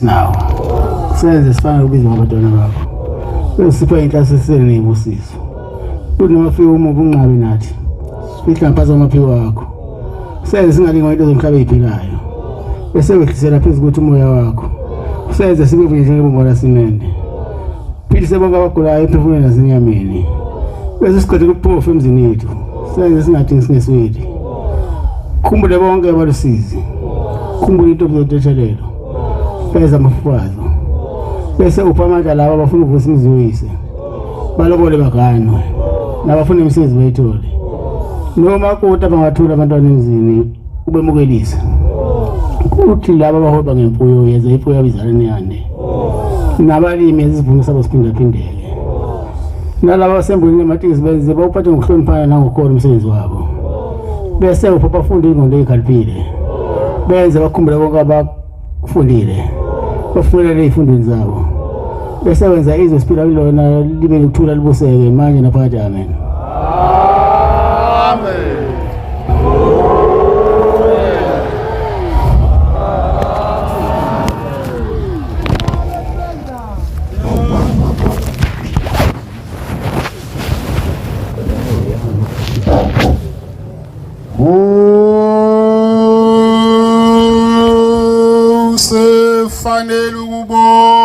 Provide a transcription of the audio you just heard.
nawo senze sifane ubiza ngabantwana bakho besipha inhlasiselo nebusiso kuthi noma fika uma ubunqabi nathi sifihla ngaphansi kwamaphiko wakho senze singalinga into zomhlaba eyiphilayo bese wehlisela phezu kuthi umoya wakho senze sibe vunyehleke bongola simende philise bonke abagulayo emphefumulweni nasenyameni bese siqede kuphofu emzini yethu senze singadingi singesweli khumbule bonke abalusizi khumbule into obuzodetshelelo beza amafubazo bese upha amandla laba abafuna ukuvusa imizi yoyise balobole baganwe nabafuna imisebenzi bayithole noma kuta bangathula abantwana emzini ubemukelisa kuthi laba abahoba ngemfuyo yeza imfuyo yabo izalane yande nabalimi esivuno sabo siphindaphindeke nalaba basembulini ematekisi benze bawuphathe ngokuhloniphana nangokhona umsebenzi wabo bese upha bafunde ingqondo eyikhaliphile benze bakhumbule konke abakufundile bafundele ey'fundweni zabo bese wenza izwe siphila kulona libe nokuthula libuseke manje naphakathi amen Usefanele ukubo